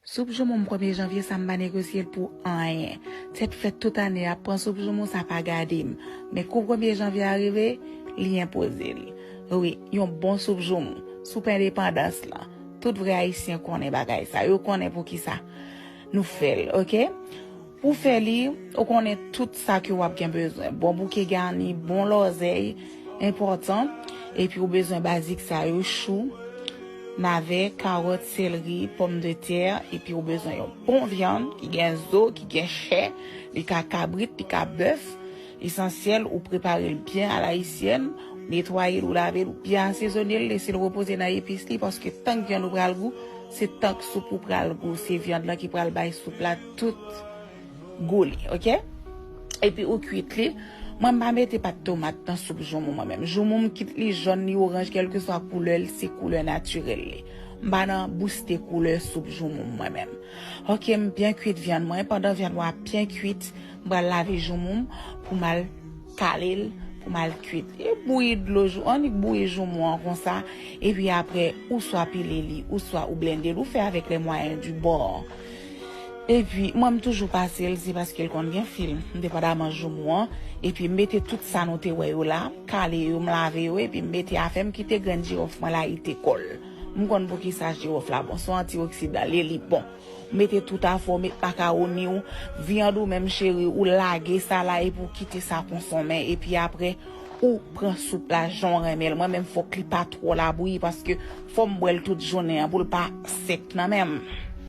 Soup joumou m premye janvye sa m pa negosye l pou anyen. Tèt frèt tout ane a pran soup joumou sa pa gade m. Men kou premye janvye a rive, li enpoze l. Wi, yon bon soup joumou, soup endepandans lan. Tout vrè ayisyen konnen bagay sa. Yo konnen poukisa nou fè l, oke. Pou fè li, ou konnen tout sa ke wap gen bezwen, bon bouke gani, bon lòzèy, enpòtan, epi ou bezwen bazik sa yo, chou, navè, karòt, sèlri, pòm de tè, epi ou bezwen yon bon vyann ki gen zo, ki gen chè, li ka kabrit, li ka bèf, esansyèl ou prepare l byen alayisyèn, ou netwaye l, ou lave l, ou byen asezone l, lese l repoze nan epis li, paske tank vyann ou pral gou, se tank soup ou pral gou, se vyann lan ki pral bay soup la. tout gou li ok epi ou kwit li mwen m pa mete pat tomat nan soup joumou mwen menm joumou m kit li jòn li oranj kelkeswa koulè l se koulè natirèl li m pa nan bouste koulè soup joumou m mwen menm ok m byen kwit vyann mwen pandan vyann mwen ap byen kwit m pral lave joumou m pou m al Kale l pou m al kuit li. Bouyi dlo joumou, annik bouyi joumou an konsa, epi apre ou swa pile li, ou swa ou blende l, ou fè avèk les moyens du bord. Epi, mwen m toujou pase l, se paske l konn gen fil, depandaman joumou an, epi m mete tout sa nou te wè yo la, m kale yo, m lave yo, epi m mete afè m, kite grenn jirof mwen layite kò l. M konn poukisa jirof la bon, son antioksidan l ye, li bon. Mete tout afo met makaroni ou, viand ou menm cheri ou lage sa la epi ou kite sa konsonmen epi aprè ou pran soup la janw renmenl mwen menm fok li pa tro labouyi paske fom bwèl tout jounen an poul pa sèk nan menm.